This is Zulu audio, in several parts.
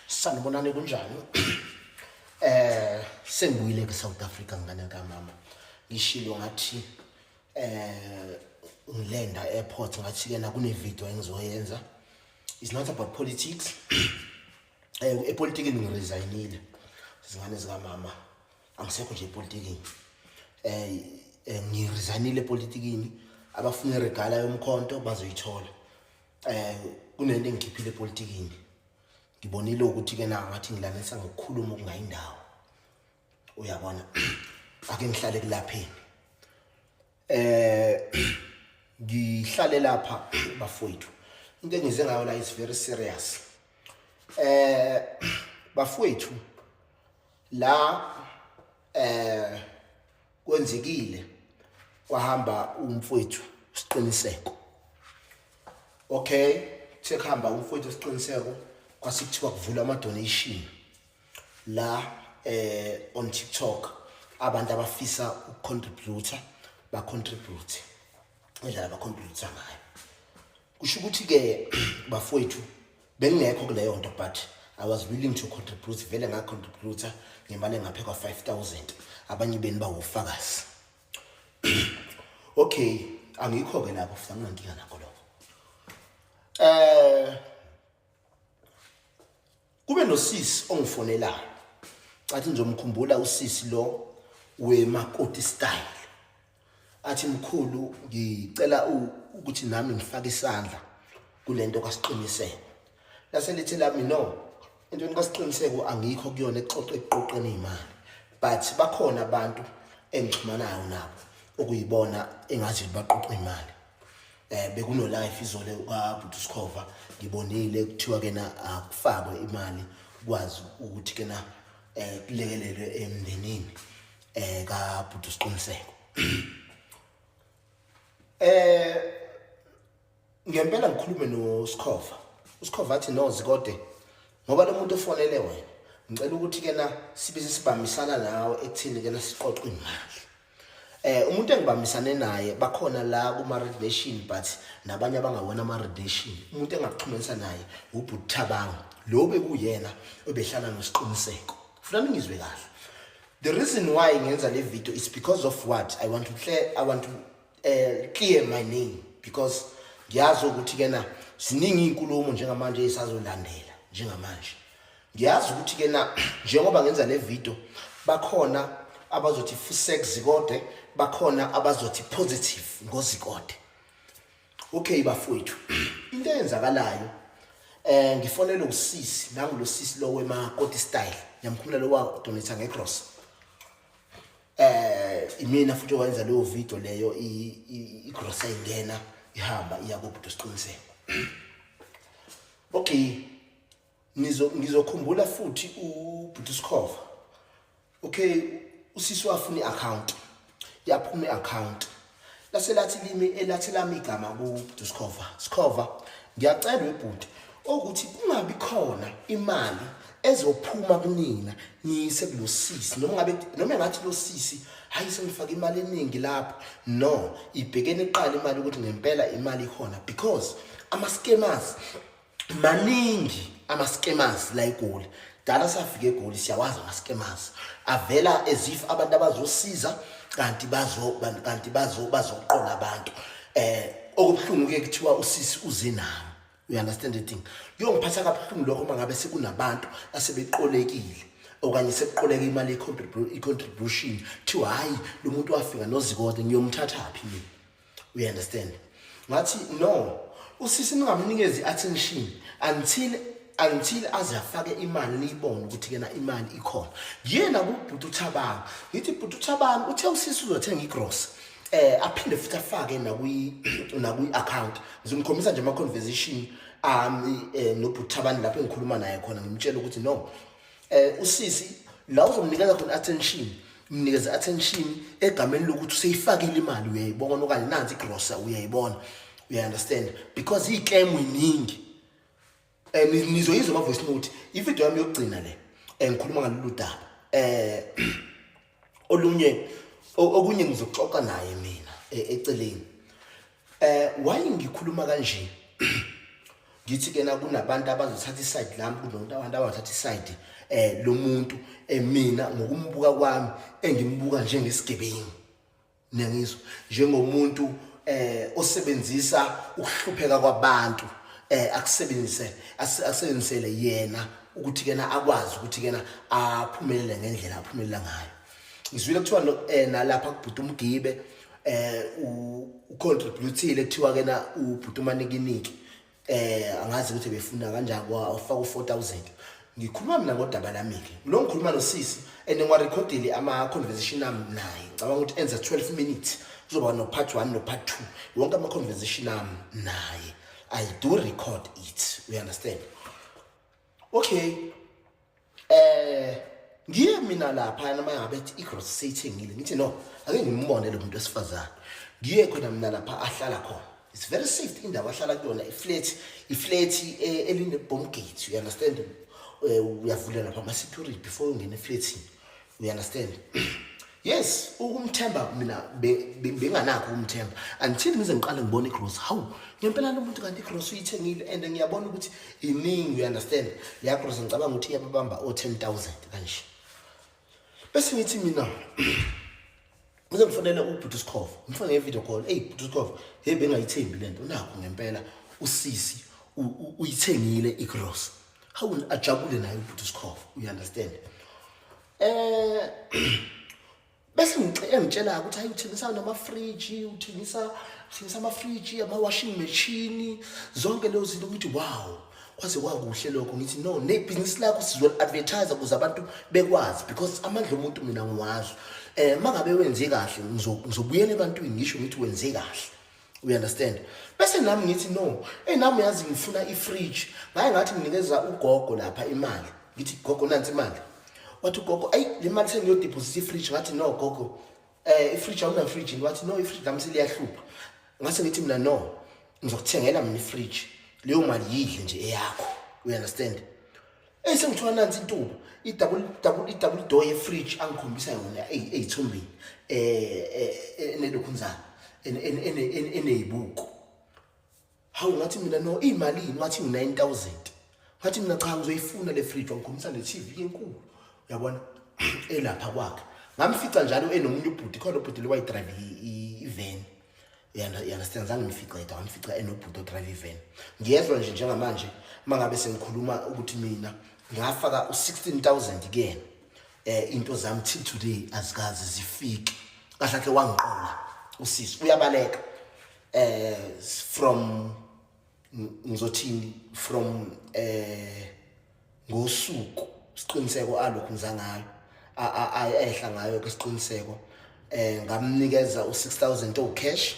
sanibonani kunjani eh sengibuyile ke South Africa ngane ka mama ngishilo ngathi eh ngilenda airport ngathi kena kune video engizoyenza is not about politics um epolitikini ngiresignile zingane zikamama angisekho nje epolitikini um ngiresignile epolitikini abafuna iregala yomkhonto bazoyithola um kunento engikhiphile epolitikini ngibonile ukuthi-ke na ngathi ngilanisa ngokukhuluma okungayindawo uyabona ake ngihlale kulapheni eh ngihlale lapha bafowethu into engize ngayo la is very serious eh bafowethu la eh kwenzekile kwahamba umfowethu siqiniseko okay sekuhamba umfowethu siqiniseko kwasikuthiwa kuvula ama donation la eh on TikTok abantu abafisa ukucontributor ba contribute indlela ba contribute ngayo kusho ukuthi ke bafowethu bengekho kuleyo nto but I was willing to contribute vele nga contributor ngemali engaphe kwa 5000 abanye beni bawufakazi okay angikho ke lapho futhi anginankinga nakho lokho eh kube nosisi ongifonelayo cathi ngizomkhumbula usisi lo wemakoti style athi mkhulu ngicela ukuthi nami ngifake isandla kulento kasiqiniseko lase lithi lami no into kasiqiniseko angikho kuyona exoxe eqoqeni imali but bakhona abantu engixhumanayo nabo okuyibona engazi baqoqa imali eh bekuno life izole ukaBhuti Sikhova ngibonile kuthiwa kena akufakwe imali kwazi ukuthi kena eh kulekelelwe emndenini eh kaBhuti Siqiniseko eh ngempela ngikhulume no Sikhova uSikhova athi no zikode ngoba lo muntu ofonele wena ngicela ukuthi kena sibize sibambisana nawe ekuthini kena siqoqwe imali Eh umuntu engibambisane naye bakhona la kuma Red Nation but nabanye abangawona ama Red Nation. Umuntu engakuxhumanisa naye ubuthabanga. Lo bekuyena obehlala nosiqiniseko. Funa ningizwe kahle. The reason why ngenza le video is because of what I want to clear I want to uh, clear my name because ngiyazi ukuthi kena ziningi inkulumo njengamanje esazolandela njengamanje. ngiyazi ukuthi ke na njengoba ngenza le video bakhona abazothi fusek zikode bakhona abazothi positive ngozikode okay bafowethu into eyenzakalayo eh ngifonela usisi nangu lo sisi lo wema koti style ngiyamkhumula lo wa donate ngegross eh imina futhi owenza leyo video leyo i gross ayingena ihamba iya kubudo siqiniseko okay ngizokhumbula futhi ubhuti sikhova okay usisi wafuna i-account yaphuma i-account lase lathi limi elathi lami igama kubhuti sikhova sikhova ngiyacela webhuti ukuthi kungabi khona imali ezophuma kunina ngiyise kulosisi noma ngabe noma ngathi losisi hayi sengifaka imali eningi lapho no ibhekene iqala imali ukuthi ngempela imali ikhona because ama scammers maningi ama-scammers la egoli dala safika egoli siyawazi ama-scammers avela as if abantu abazosiza kanti bazo kanti bazo bazoqola abantu eh okubuhlungu ke kuthiwa usisi uze nami you understand the thing kuyongiphatha kabuhlungu lokho uma ngabe sekunabantu asebeqolekile okanye sekuqoleka imali i-contribution kuthiwa hhayi lo muntu wafika nozikode ngiyomthathaphi mina u understand ngathi no usisi ningamnikezi attention until until aze afake imali niyibone ukuthi kena imali ikhona yena kubhuti uthabanga ngithi bhuti uthabanga uthe usisi uzothenga igross eh aphinde futhi afake nakwi nakwi account ngizomkhombisa nje ama conversation ami eh, nobhuti thabani lapho engikhuluma naye khona ngimtshela ukuthi no eh usisi la uzomnikeza khona attention mnikeze attention egameni lokuthi useyifakile imali uyayibona okanye nansi igrosa uyayibona uya understand because i claim iningi eh nizoyizwa ama voice note ivideo yami yokugcina le engikhuluma eh, ngalolu daba eh olunye okunye ngizoxoxa naye mina e, eceleni eh why ngikhuluma kanje ngithi ke na kunabantu abazothatha iside lami kunomuntu abantu abathatha iside eh lomuntu eh, mina ngokumbuka kwami engimbuka njengesigebengu niyangizwa njengomuntu eh osebenzisa ukuhlupheka kwabantu eh akusebenzise asebenzisele yena ukuthi kena akwazi ukuthi kena aphumelele ngendlela aphumelela ngayo ngizwile kuthiwa no eh, nalapha kubhuti umgibe eh u contributile kuthiwa kena ubhuti umanikiniki eh angazi ukuthi befuna kanjani kwa ufaka u4000 ngikhuluma mina ngodaba lami-ke lo ngikhuluma nosisi and ngiwarekhodile ama-conversation ami naye ngicabanga ukuthi enza 12 minutes kuzoba no-part one no-part two wonke ama-conversation ami naye i do record it we understand okay eh ngiye mina lapha noma ngabe ethi igross seyithengile ngithi no ake ngimbone lo muntu wesifazane ngiye khona mina lapha ahlala khona it's very safe indawo ahlala kuyona iflat iflat eh, eline bomb gate you understand eh, uyavula lapha ama security before ungena eflatini You understand? yes ukumthemba mina benganakho ukumthemba until ngize ngiqale ngibone igross hawu ngempela lo muntu kanti igross uyithengile and ngiyabona ukuthi iningi you understand leya gross ngicabanga ukuthi iyababamba o-10 000 kanje bese ngithi mina Uze ngifonele ubhuti uSkhova. Ngifone ngevideo call. Ey bhuti uSkhova, hey bengayithembi lento. Nakho ngempela usisi uyithengile igross. Hawu ajabule naye ubhuti uSkhova. You understand? Eh bese ngicela ukuthi hayi uthengisa namafriji uthengisa uthengisa amafriji ama-washing machine zonke lezo zinto ukuthi wow kwaze kwakuhle lokho ngithi no nebhizinisi lakho sizoli-advertise ukuze abantu bekwazi because amandla omuntu mina ngiwazi um eh, uma ngabe wenze kahle ngizobuyela ebantwini ngisho ngithi wenze kahle we understand bese nami ngithi no eyi nami yazi ngifuna i-fridge ngaye ngathi nginikeza ugogo lapha imali ngithi gogo nansi imali wathi ugogo ayi le mali sengiyodephosisa i-fridge ngathi no gogo eh ifridge awuna fridge wathi no ifridge lami seliyahlupha ngase ngithi mina no ngizokuthengela mina ifridge leyo mali yidle nje eyakho you understand esengithiwa nansi intuba idouble double idouble door ye fridge angikhombisa yona eyithumbini eh, eh, eh enelokhunzana eneyibuko hawu ngathi mina no iyimalini wathi ngu-nine thousand ngathi mina cha ngizoyifuna le fridge wangikhombisa ne-tv enkulu uyabona elapha kwakhe ngamfica njalo enomunye ubhuti khona ubhuti le wayidrayive iven uyandastand zange ngifica yedwa ngamfica enobhuti odrive iven ngiyezwa nje njengamanje uma ngabe sengikhuluma ukuthi mina ngafaka u-sixteen thousand kuyena um into zami till today azikazi zifike kahle khe wangiqola usisi uyabaleka eh from ngizothini from eh ngosuku siqiniseko alokhu ngiza ngayo ayehla ngayo ke siqiniseko eh ngamnikeza u6000 o cash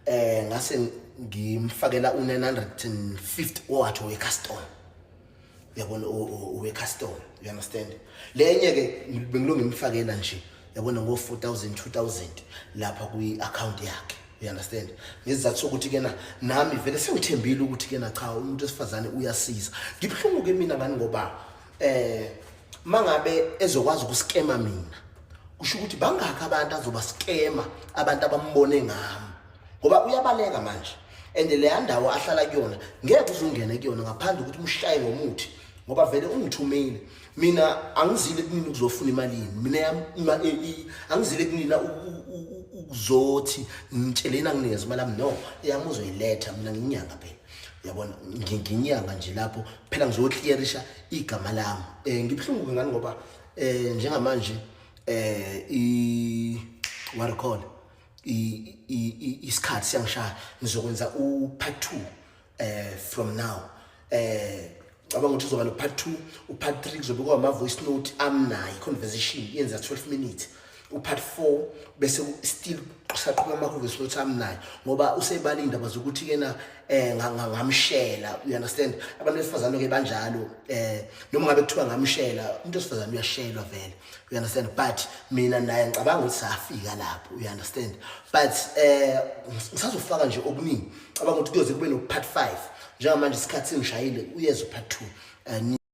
eh ngase ngimfakela u950 owathi we customer yabona uwe-custom you understand le enye-ke bengilo ngimfakela nje yabona ngo-four thousand two thousand lapha kwi-akhawunti yakhe you understand ngesizathu sokuthi kena nami vele sengithembile ukuthi kena cha umuntu wesifazane uyasiza ngibuhlungu-ke mina ngani ngoba eh mangabe ezokwazi ukuskema mina kusho ukuthi bangakho abantu azoba skema abantu abambone ngami ngoba uyabaleka manje and leya ndawo ahlala kuyona ngeke uzungene kuyona ngaphandle ukuthi umshaye ngomuthi ngoba vele ungithumile mina angizile kunini ukuzofuna imali yini mina yam angizile kunini ukuzothi ngitsheleni anginikeze imali yami no eyami uzoyiletha mina nginyanga phela yabona nginyanga nje lapho phela ngizoclearisha igama lami um ngibuhlungu-ke ngani ngoba um njengamanje um i-waricall isikhathi siyangishaya ngizokwenza u-part two um from now um cabanga ukuthi uzoba no-part two u-part three kuzobe kwama-voice note amnayo i-conversation yenza 12 minutes upart 4 bese still saqhuba amahhovisi lothi amnayo ngoba usebala indaba zokuthi kena eh ngamshela you understand abantu besifazane ke banjalo eh noma ngabe kuthiwa ngamshela umuntu osifazane uyashelwa vele you understand but mina naye ngicabanga ukuthi safika lapho you understand but eh ngisazofaka nje okuningi cabanga ukuthi kuyoze kube no part 5 njengamanje isikhathi singishayile uyeza part 2 eh,